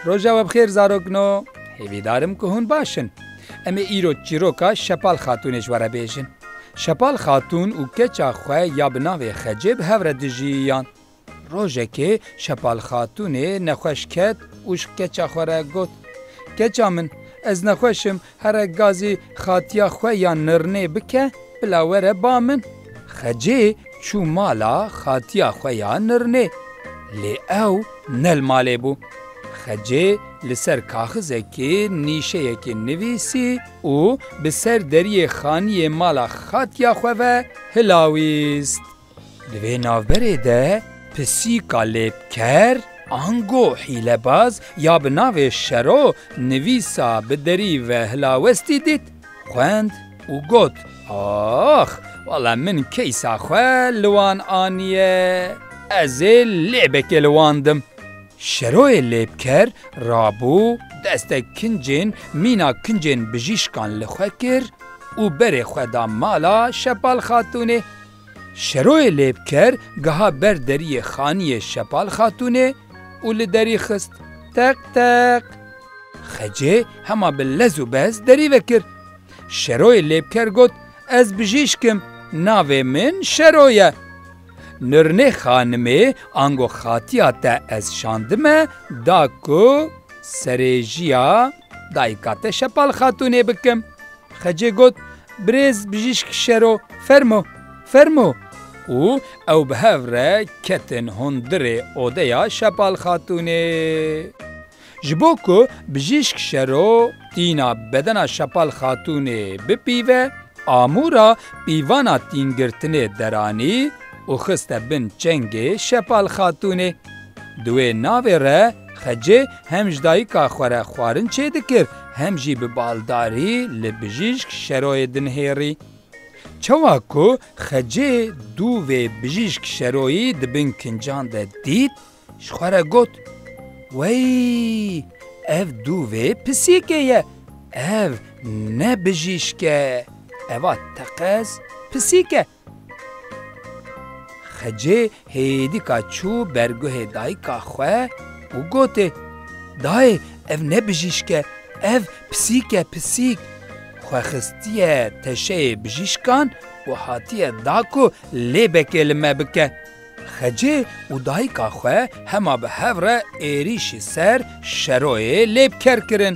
Roja we bixêr zarokno hêvîdarim ku hûn baş in. Em ê îro çîroka Şepal Xatûnê ji we re bêjin. Şepal Xatûn û keça xwe ya bi navê Xecê bi hev re dijîyan. Rojekê Şepal Xatûnê nexweş ket û ji keça xwe re got, Keça min, ez nexweş im, here gazê xatiya xwe ya nirnê bike, bila were ba min. Xecê çû mala xatiya xwe ya nirnê, lê ew ne li malê bû. Xecê li ser kaxizekê nîşeyekê nivîsî û bi ser deriyê xaniyê mala xatiya xwe ve hilawîst. Di vê navberê de pisîka lêvker, ango hîlebaz ya bi navê Şero nivîsa bi derî ve hilawestî dît, xwend û got, Ax! Wala min keysa xwe li wan aniye, ez ê lêvekê li wan dim. Şeroyê lêvker rabû destek kincên mîna kincên bijîşkan li xwe kir û berê xwe da mala Şepal Xatûnê. Şeroyê lêvker giha ber deriyê xaniyê Şepal Xatûnê û li derî xist. Teq teq! Xecê hema bi lez û bez derî vekir. Şeroyê lêvker got, Ez bijîşk im, navê min Şero ye. Nirnê xanimê ango xatiya te ez şandime da ku serêjiya. Dayika te Şepal Xatûnê bikim. Xecê got, Birêz bijîşk şero, fermo, fermo! û ew bi hev re ketin hundirê odeya Şepal Xatûnê. Ji bo ku bijîşk şero tîna bedena Şepal Xatûnê bipîve, amûra pîvana tîngirtinê deranî û xiste bin çengê Şepal Xatûnê. Di wê navê re Xecê hem ji dayika xwe re xwarin çêdikir hem jî bi baldarî li bijîşk şeroyê dinihêrî. Çawa ku Xecê dû vê bijîşk şeroyî di bin kincan de dît, ji xwe re got, Wey, ev dû vê pisîkê ye, ev ne bijîşk e, eva teqez pisîk e. Xecê hêdîka çû ber guhê dayika xwe û gotê, Dayê ev ne bijîşk e, ev pisîk e pisîk. Xwe xistiye teşeyê bijîşkan û hatiye da ku lêbekê li me bike. Xecê û dayika xwe hema bi hev re êrîşî ser Şeroyê Lêbker kirin.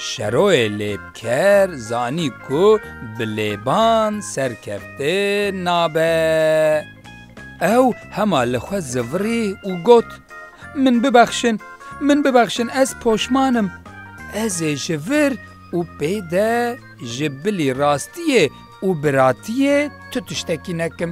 Şeroyê Lêbker zanî ku bi lêban serkefte nabe. Ew hema li xwe zivirî û got, Min bibexşin, min bibexşin ez poşman im. Ez ê ji vir û pê de ji bilî rastiyê Û biratiyê tu tiştekî nekim.